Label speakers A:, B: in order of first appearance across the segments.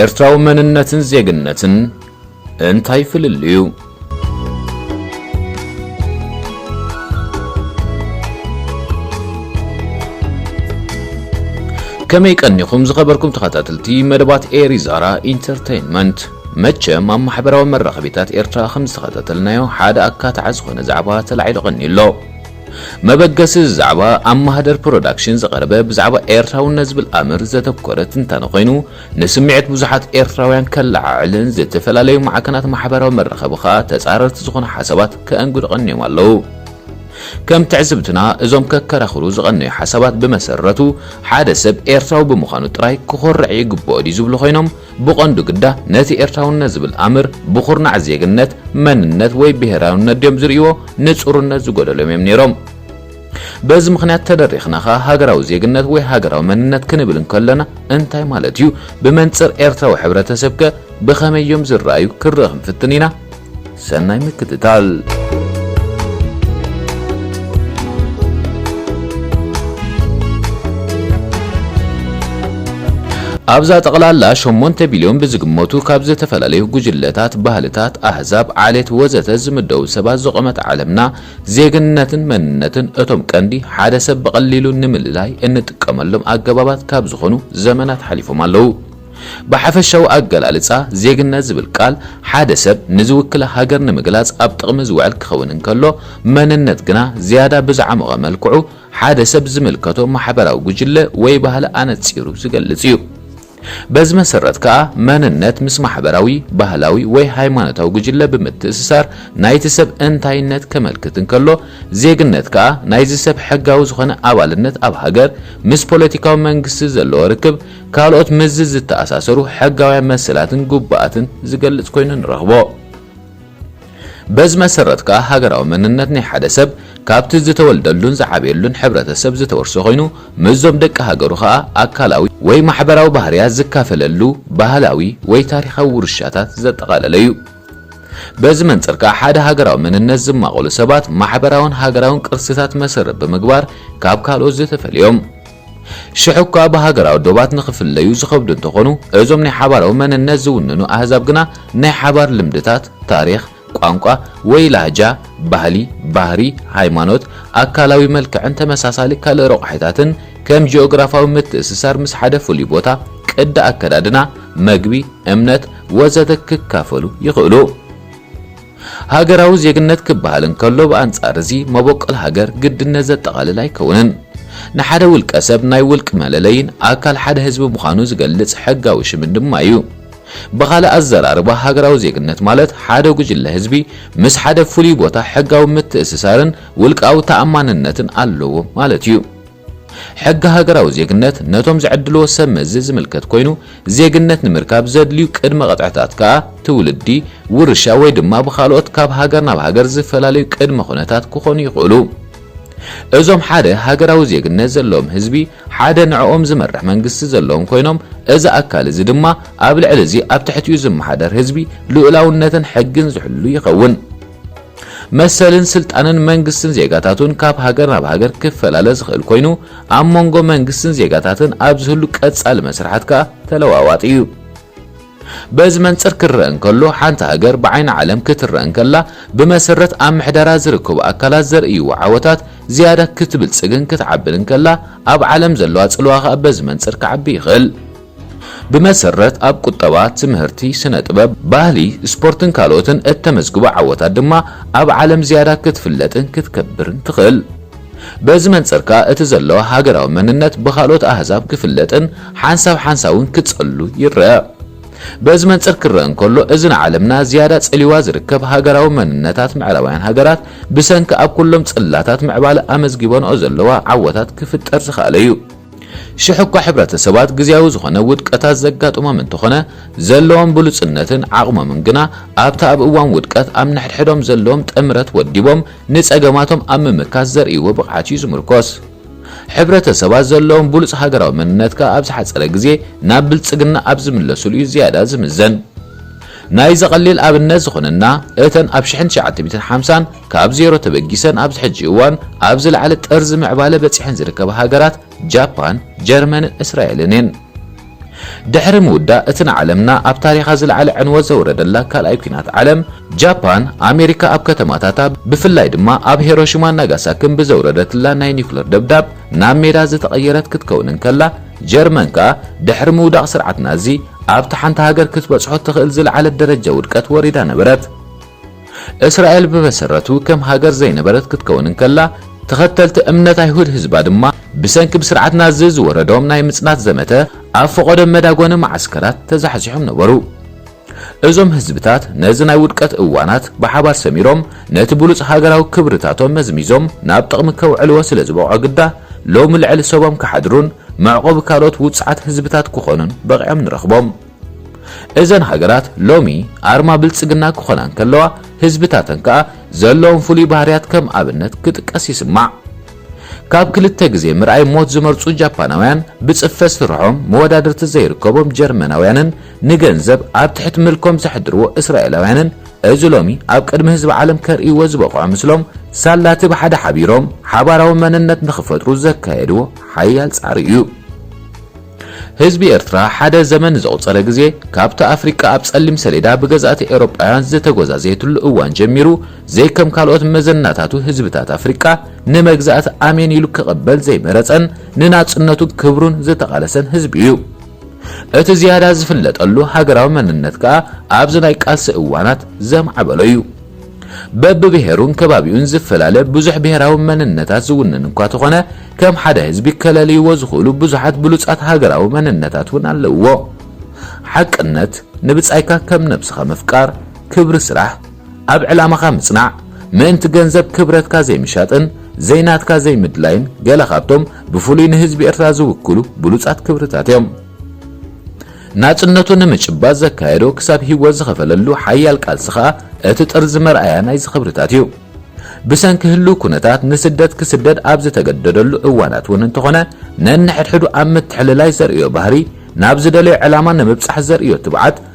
A: ኤርትራዊ መንነትን ዜግነትን እንታይ ፍልልዩ? ከመይ ቀኒኹም ዝኸበርኩም ተኸታተልቲ መደባት ኤሪ ዛራ ኢንተርተይንመንት መቸም ኣብ ማሕበራዊ መራኸቢታት ኤርትራ ከም ዝተኸታተልናዮ ሓደ ኣካታዒ ዝኾነ ዛዕባ ተላዒሉ ቀኒዩ ኣሎ። መበገሲ እዚ ዛዕባ ኣብ ማህደር ፕሮዳክሽን ዝቐረበ ብዛዕባ ኤርትራውነት ዝብል ኣምር ዘተኮረ ትንታነ ኮይኑ ንስምዒት ብዙሓት ኤርትራውያን ከለዓዕልን ዝተፈላለዩ ማዕከናት ማሕበራዊ መራኸቢ ከኣ ተጻረርቲ ዝኾኑ ሓሳባት ከእንግዱ ቀንዮም ኣለዉ። ከም ትዕዝብትና እዞም ከከራኽሩ ዝቐነዩ ሓሳባት ብመሰረቱ ሓደ ሰብ ኤርትራዊ ብምዃኑ ጥራይ ክኾርዕ ይግበኦ ድዩ ዝብሉ ኮይኖም ብቐንዱ ግዳ ነቲ ኤርትራውነት ዝብል ኣምር ብኹርናዕ ዜግነት፣ መንነት ወይ ብሄራውነት ድዮም ዝርእይዎ? ንጹርነት ዝጎደሎም እዮም ነይሮም። በዚ ምኽንያት ተደሪኽና ከኣ ሃገራዊ ዜግነት ወይ ሃገራዊ መንነት ክንብል እንከሎና እንታይ ማለት እዩ? ብመንጽር ኤርትራዊ ሕብረተሰብከ ብኸመይ እዮም ዝረኣዩ? ክንርኢ ክንፍትን ኢና። ሰናይ ምክትታል። ኣብዛ ጠቕላላ ሸሞንተ ቢልዮን ብዝግመቱ ካብ ዝተፈላለዩ ጉጅለታት፣ ባህልታት፣ ኣህዛብ፣ ዓሌት ወዘተ ዝምደቡ ሰባት ዝቖመት ዓለምና ዜግነትን መንነትን እቶም ቀንዲ ሓደ ሰብ ብቐሊሉ ንምልላይ እንጥቀመሎም ኣገባባት ካብ ዝኾኑ ዘመናት ሓሊፎም ኣለዉ። ብሓፈሻዊ ኣገላልጻ፣ ዜግነት ዝብል ቃል፣ ሓደ ሰብ ንዝውክላ ሃገር ንምግላጽ ኣብ ጥቕሚ ዝውዕል ክኸውን እንከሎ፣ መንነት ግና ዝያዳ ብዝዓሞቐ መልክዑ፣ ሓደ ሰብ ዝምልከቶ ማሕበራዊ ጉጅለ ወይ ባህሊ ኣነጺሩ ዝገልጽ እዩ። በዚ መሰረት ከኣ፣ መንነት ምስ ማሕበራዊ፣ ባህላዊ ወይ ሃይማኖታዊ ጉጅለ ብምትእስሳር ናይቲ ሰብ እንታይነት ከመልክት እንከሎ፣ ዜግነት ከኣ ናይዚ ሰብ ሕጋዊ ዝኾነ ኣባልነት ኣብ ሃገር፣ ምስ ፖለቲካዊ መንግስቲ ዘለዎ ርክብ፣ ካልኦት ምስዚ ዝተኣሳሰሩ ሕጋውያን መሰላትን ግቡኣትን ዝገልጽ ኮይኑ ንረኽቦ። በዚ መሰረት ከኣ ሃገራዊ መንነት ናይ ሓደ ሰብ ካብቲ ዝተወልደሉን ዝዓብየሉን ሕብረተሰብ ዝተወርሶ ኮይኑ ምስዞም ደቂ ሃገሩ ከኣ ኣካላዊ ወይ ማሕበራዊ ባህርያት ዝካፈለሉ ባህላዊ ወይ ታሪኻዊ ውርሻታት ዘጠቓለለ እዩ። በዚ መንጽር ከኣ ሓደ ሃገራዊ መንነት ዝማቐሉ ሰባት ማሕበራውን ሃገራውን ቅርስታት መሰረት ብምግባር ካብ ካልኦት ዝተፈልዮም ሽሕኳ ብሃገራዊ ዶባት ንኽፍለዩ ዝኸብዱ እንተኾኑ፣ እዞም ናይ ሓባራዊ መንነት ዝውንኑ ኣህዛብ ግና ናይ ሓባር ልምድታት፣ ታሪኽ፣ ቋንቋ ወይ ላህጃ፣ ባህሊ፣ ባህሪ፣ ሃይማኖት፣ ኣካላዊ መልክዕን ተመሳሳሊ ካልእ ረቋሒታትን፣ ከም ጂኦግራፋዊ ምትእስሳር ምስ ሓደ ፍሉይ ቦታ፣ ቅዲ ኣከዳድና፣ መግቢ፣ እምነት ወዘተ ክካፈሉ ይኽእሉ። ሃገራዊ ዜግነት ክበሃል እንከሎ ብኣንጻር እዚ መበቆል ሃገር ግድነት ዘጠቓልል ኣይከውንን። ንሓደ ውልቀ ሰብ ናይ ውልቅ መለለይን ኣካል ሓደ ህዝቢ ምዃኑ ዝገልጽ ሕጋዊ ሽምን ድማ እዩ። ብኻልእ ኣዘራርባ ሃገራዊ ዜግነት ማለት ሓደ ጉጅለ ህዝቢ ምስ ሓደ ፍሉይ ቦታ ሕጋዊ ምትእስሳርን ውልቃዊ ተኣማንነትን ኣለዎ ማለት እዩ። ሕጊ ሃገራዊ ዜግነት ነቶም ዝዕድልዎ ሰብ መዚ ዝምልከት ኮይኑ፣ ዜግነት ንምርካብ ዘድልዩ ቅድመ ቅጥዕታት ከኣ ትውልዲ፣ ውርሻ ወይ ድማ ብኻልኦት ካብ ሃገር ናብ ሃገር ዝፈላለዩ ቅድመ ኩነታት ክኾኑ ይኽእሉ። እዞም ሓደ ሃገራዊ ዜግነት ዘለዎም ህዝቢ ሓደ ንዕኦም ዝመርሕ መንግስቲ ዘለዎም ኮይኖም እዚ ኣካል እዚ ድማ ኣብ ልዕሊ እዚ ኣብ ትሕቲኡ ዝመሓደር ህዝቢ ልኡላውነትን ሕግን ዝሕሉ ይኸውን። መሰልን ስልጣንን መንግስትን ዜጋታቱን ካብ ሃገር ናብ ሃገር ክፈላለ ዝኽእል ኮይኑ ኣብ መንጎ መንግስትን ዜጋታትን ኣብ ዝህሉ ቀጻሊ መስርሓት ከኣ ተለዋዋጢ እዩ። በዚ መንጽር ክረአ እንከሎ ሓንቲ ሃገር ብዓይኒ ዓለም ክትረአ እንከላ ብመሰረት ኣብ ምሕደራ ዝርከቡ ኣካላት ዘርእይዎ ዓወታት ዝያዳ ክትብልጽግን ክትዓብን እንከላ ኣብ ዓለም ዘለዋ ጽልዋ ከኣ በዚ መንጽር ክዓቢ ይኽእል። ብመሰረት ኣብ ቁጠባ፣ ትምህርቲ፣ ስነ ጥበብ፣ ባህሊ፣ ስፖርትን ካልኦትን እተመዝግቦ ዓወታት ድማ ኣብ ዓለም ዝያዳ ክትፍለጥን ክትከብርን ትኽእል። በዚ መንጽር ከኣ እቲ ዘለዋ ሃገራዊ መንነት ብኻልኦት ኣህዛብ ክፍለጥን ሓንሳብ ሓንሳብ'ውን ክጸሉ ይረኣ። በዚ መንጽር ክረኣ እንከሎ እዚ ንዓለምና ዝያዳ ጸልዩዋ ዝርከብ ሃገራዊ መንነታት ምዕራባውያን ሃገራት ብሰንኪ ኣብ ኩሎም ጽላታት ምዕባለ ኣመዝጊበንኦ ዘለዋ ዓወታት ክፍጠር ዝኸኣለ'ዩ። ሽሕ እኳ ሕብረተሰባት ግዝያዊ ዝኾነ ውድቀታት ዘጋጥሞም እንተኾነ፣ ዘለዎም ብሉጽነትን ዓቕሞምን ግና ኣብቲ ኣብ እዋን ውድቀት ኣብ ነሕድሕዶም ዘለዎም ጥምረት ወዲቦም ንጸገማቶም ኣብ ምምካት ዘርእይዎ ብቕዓት እዩ ዝምርኮስ። ሕብረተሰባት ዘለዎም ብሉጽ ሃገራዊ መንነት ከኣ ኣብ ዝሓጸረ ግዜ ናብ ብልጽግና ኣብ ዝምለሱሉ እዩ ዝያዳ ዝምዘን። ናይዚ ቀሊል ኣብነት ዝኾነና እተን ኣብ ሽሕን ትሽዓተ ሚእትን ሓምሳን ካብ ዜሮ ተበጊሰን ኣብዚ ሕጂ እዋን ኣብ ዝለዓለ ጥርዚ ምዕባለ በጺሐን ዝርከባ ሃገራት ጃፓን፣ ጀርመንን እስራኤልን እየን። ድሕሪ ምውዳእ እቲ ንዓለምና ኣብ ታሪኻ ዝለዓለ ዕንወት ዘውረደላ ካልኣይ ኲናት ዓለም፣ ጃፓን፣ ኣሜሪካ ኣብ ከተማታታ ብፍላይ ድማ ኣብ ሄሮሺማን ናጋሳክን ብዘውረደትላ ናይ ኒዩክለር ደብዳብ ናብ ሜዳ ዝተቐየረት ክትከውን እንከላ፣ ጀርመን ከኣ ድሕሪ ምውዳቕ ስርዓት ናዚ ኣብቲ ሓንቲ ሃገር ክትበጽሖ እትኽእል ዝለዓለት ደረጃ ውድቀት ወሪዳ ነበረት። እስራኤል ብመሰረቱ ከም ሃገር ዘይነበረት ክትከውን እንከላ፣ ተኸተልቲ እምነት ኣይሁድ ህዝባ ድማ ብሰንኪ ብስርዓት ናዚ ዝወረዶም ናይ ምጽናት ዘመተ ኣብ ፈቖዶ መዳጎኒ መዓስከራት ተዛሕዚሖም ነበሩ። እዞም ህዝብታት ነዚ ናይ ውድቀት እዋናት ብሓባር ሰሚሮም ነቲ ብሉጽ ሃገራዊ ክብርታቶም መዝሚዞም ናብ ጥቕሚ ከውዕልዎ ስለ ዝበቕዑ ግዳ ሎሚ ልዕሊ ሰቦም ክሓድሩን መዕቆቢ ካልኦት ውጹዓት ህዝብታት ክኾኑን በቒዖም ንረኽቦም። እዘን ሃገራት ሎሚ ኣርማ ብልጽግና ክኾና እንከለዋ ህዝብታተን ከኣ ዘለዎም ፍሉይ ባህርያት ከም ኣብነት ክጥቀስ ይስማዕ። ካብ ክልተ ግዜ ምርኣይ ሞት ዝመርጹ ጃፓናውያን ብጽፈት ስርሖም መወዳድርቲ ዘይርከቦም ጀርመናውያንን ንገንዘብ ኣብ ትሕቲ ምልኮም ዘሕድርዎ እስራኤላውያንን እዚ ሎሚ ኣብ ቅድሚ ህዝቢ ዓለም ከርእይዎ ዝበቕዑ ምስሎም ሳላቲ ብሓደ ሓቢሮም ሓባራዊ መንነት ንኽፈጥሩ ዘካየድዎ ሓያል ጻዕሪ እዩ። ህዝቢ ኤርትራ ሓደ ዘመን ንዘቑጸረ ግዜ ካብቲ ኣፍሪቃ ኣብ ጸሊም ሰሌዳ ብገዛእቲ ኤውሮጳውያን ዝተጎዛዘየትሉ እዋን ጀሚሩ ዘይከም ካልኦት መዘናታቱ ህዝብታት ኣፍሪቃ ንመግዛእቲ ኣሜን ኢሉ ክቕበል ዘይመረጸን ንናጽነቱን ክብሩን ዝተቓለሰን ህዝቢ እዩ። እቲ ዝያዳ ዝፍለጠሉ ሃገራዊ መንነት ከኣ ኣብዚ ናይ ቃልሲ እዋናት ዘማዕበሎ እዩ። በብብሄሩን ከባቢኡን ዝፈላለ ብዙሕ ብሄራዊ መንነታት ዝውንን እኳ ተኾነ፣ ከም ሓደ ህዝቢ ከለልይዎ ዝኽእሉ ብዙሓት ብሉጻት ሃገራዊ መንነታት እውን ኣለውዎ። ሓቅነት፣ ንብጻይካ ከም ነብስኻ ምፍቃር፣ ክብሪ ስራሕ፣ ኣብ ዕላማኻ ምጽናዕ፣ ምእንቲ ገንዘብ ክብረትካ ዘይምሻጥን ዘይናትካ ዘይምድላይን ገለ ካብቶም ብፍሉይ ንህዝቢ ኤርትራ ዝውክሉ ብሉጻት ክብርታት እዮም። ናጽነቱ ንምጭባጥ ዘካየዶ ክሳብ ሂወት ዝኸፈለሉ ሓያል ቃልሲ ከኣ እቲ ጥርዚ መርኣያ ናይዚ ክብርታት እዩ። ብሰንኪ ህሉው ኩነታት ንስደት ክስደድ ኣብ ዝተገደደሉ እዋናት እውን እንተኾነ ነንሕድሕዱ ኣብ ምትሕልላይ ዘርእዮ ባህሪ፣ ናብ ዝደለዮ ዕላማ ንምብጻሕ ዘርእዮ ትብዓት፣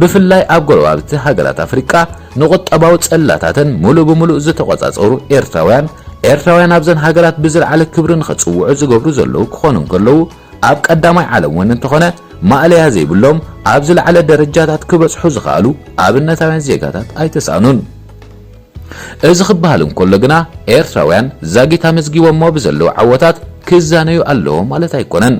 A: ብፍላይ ኣብ ጎረባብቲ ሃገራት ኣፍሪቃ ንቁጠባዊ ጽላታተን ምሉእ ብምሉእ ዝተቖጻጸሩ ኤርትራውያን፣ ኤርትራውያን ኣብዘን ሃገራት ብዝልዓለ ክብሪ ንኽጽውዑ ዝገብሩ ዘለዉ ክኾኑ እንከለዉ፣ ኣብ ቀዳማይ ዓለም ወን እንተኾነ ማእለያ ዘይብሎም ኣብ ዝለዓለ ደረጃታት ክበጽሑ ዝኸኣሉ ኣብነታውያን ዜጋታት ኣይተሳእኑን። እዚ ክበሃል እንከሎ ግና ኤርትራውያን ዛጊት ኣመዝጊቦሞ ብዘለዉ ዓወታት ክዛነዩ ኣለዎም ማለት ኣይኮነን።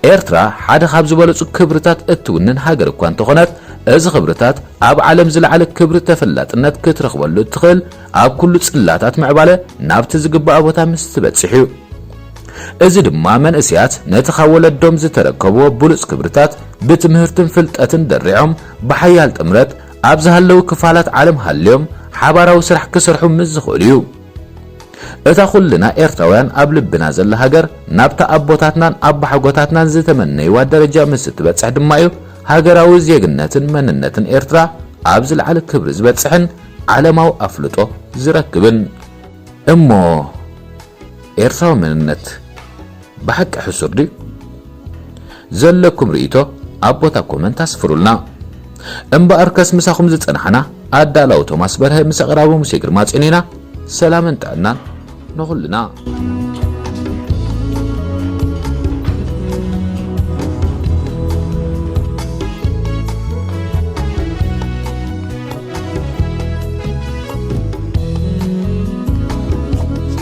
A: ኤርትራ ሓደ ካብ ዝበለጹ ክብርታት እትውንን ሃገር እኳ እንተኾነት፣ እዚ ክብርታት ኣብ ዓለም ዝለዓለ ክብሪ ተፈላጥነት ክትረኽበሉ እትኽእል ኣብ ኩሉ ጽላታት ምዕባለ ናብቲ ዝግባኣ ቦታ ምስ ትበጽሕ እዩ። እዚ ድማ መንእሰያት ነቲ ካብ ወለዶም ዝተረከብዎ ብሉጽ ክብርታት ብትምህርትን ፍልጠትን ደሪዖም ብሓያል ጥምረት ኣብ ዝሃለው ክፋላት ዓለም ሃልዮም ሓባራዊ ስራሕ ክሰርሑ ምስ ዝኽእሉ እዩ። እታ ኩልና ኤርትራውያን ኣብ ልብና ዘላ ሃገር ናብታ ኣቦታትናን ኣባሓጎታትናን ዝተመነይዋ ደረጃ ምስ እትበጽሕ ድማ እዩ ሃገራዊ ዜግነትን መንነትን ኤርትራ ኣብ ዝለዓለ ክብሪ ዝበጽሕን ዓለማዊ ኣፍልጦ ዝረክብን እሞ ኤርትራዊ መንነት ብሓቂ ሕሱር ድዩ? ዘለኩም ርእይቶ ኣብ ቦታ ኮመንት ኣስፍሩልና። እምበኣርከስ ምሳኹም ዝጸናሕና ኣዳላዊ ቶማስ በርሀ ምስ ኣቕራቢ ሙሴ ግርማጽዮን ኢና። ሰላምን ጥዕናን ንኹልና።